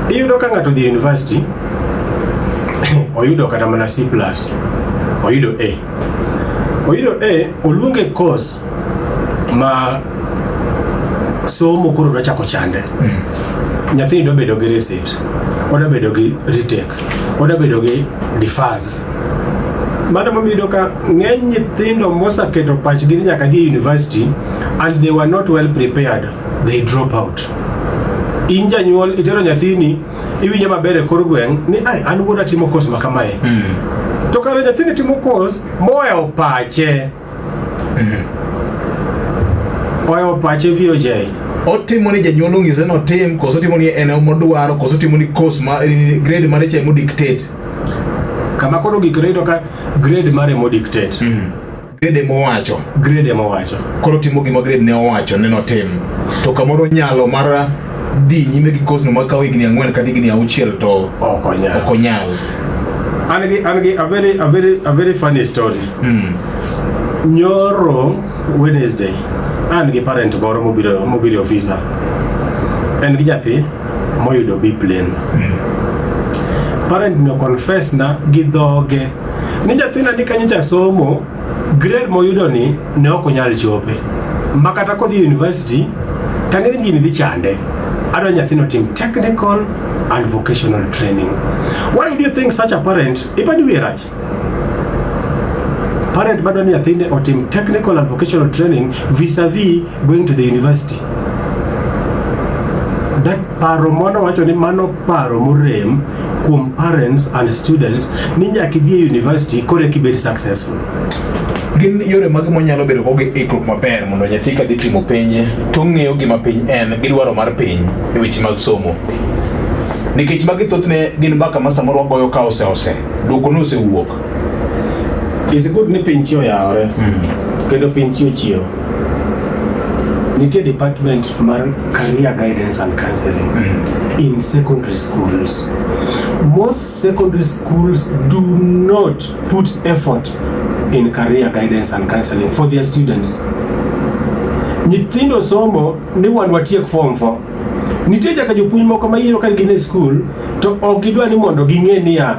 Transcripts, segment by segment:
Iyudo ka ng'ato dhi university oyudo kata mana C plus oyudo A oyudo A oluonge course ma somo koro nochako chande nyathini dwa bedo gi receipt odwa bedo gi retake odwa bedo gi defaz Mano momiyo iyudo ka ng'eny nyithindo mosaketo pachgi ni nyaka dhi e university and they were not well prepared, they drop out. In janyuol itero nyathini iwinjo maber e kor gweng' ni ai an wuoda timo course ma kamae. To kare nyathini timo course mowewo pache. Oyo pache vio jai. Otimo ni janyuol ong'ise no tim koso otimo ni en omodwaro koso otimo ni course ma eh, grade mare cha emo dictate. Kama koro gik rito ka grade mare mo dictate. Mm. Grade emo wacho. Grade emo wacho. Koro timo gima grade ne owacho ne no tim. To kamoro nyalo mara dhi nyime gi kosno ma kawo higni ang'wen kata higni auchiel to ok onyal ok onyal an gi an gi a very a very a very funny story mm. nyoro wednesday an gi parent moro mobiro mobiro ofisa en gi nyathi moyudo b plane mm. parent no confess na gi dhoge ni nyathina ni kanyo jasomo Grade moyudo ni ne ok onyal chope. Ma kata kodhi e university tangere gini dhi chande. Adwa nyathino tim technical and vocational training. Why do you think such a parent ipani wiye rach? Parent madwa ni nyathine otim technical and vocational training vis-a-vis going to the university. That paro mwana wacho ni mano paro morem kuom parents and students ni nyaka idhi e university kore kibed successful gin yore mage monyalo bedo kogi ikruok maber mondo nyathi ka dhi timo penye to ong'eyo gima piny en gi dwaro mar piny e weche mag somo nikech magi thothne gin mbaka ma samoro wagoyo ka oseose dwoko ne osewuok It's good ni piny tiyo yawore mm. kendo piny tiyo chiewo. Nitie department mar career guidance and counseling mm. in secondary schools. Most secondary schools do not put effort in career guidance and counseling for their students. Nyithindo somo ni wan watiek form 4. Nitie jaka jopuonj moko ma yiero ka gin e school to ok gidwa ni mondo ging'e niya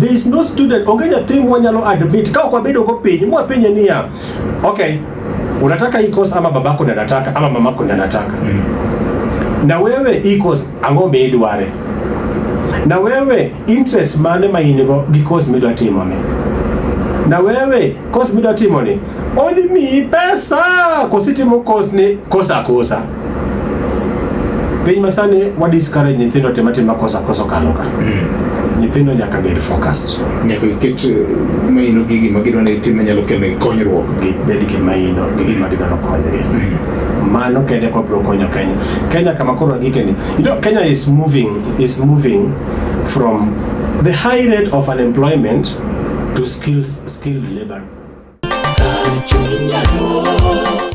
There is no student, onge nyathi mwanyalo admit ka ok wabedo go piny mwapenye niya, okay, unataka hii course ama babako ndiye anataka ama mamako ndiye anataka mm. na wewe hii course ang'o miidware na wewe interest mane ma in go gi course midwa timoni na wewe course midwa timoni only me pesa kositimo course ni kosa kosa Piny masani wa discourage nyithindo timo atima kosa kosa kalo ka. Mm. Nyithindo nyaka bed focused. Nyaka giket eh, maino gi gima gidwa ni tim nyalo kelo konyruok. Gibed gi maino gi gima gidwa ni konygi. Mm. Mano kende kwa bro konyo Kenya. Kenya kama koro gikeni. You know Kenya is moving is moving from the high rate of unemployment to skills, skilled labor.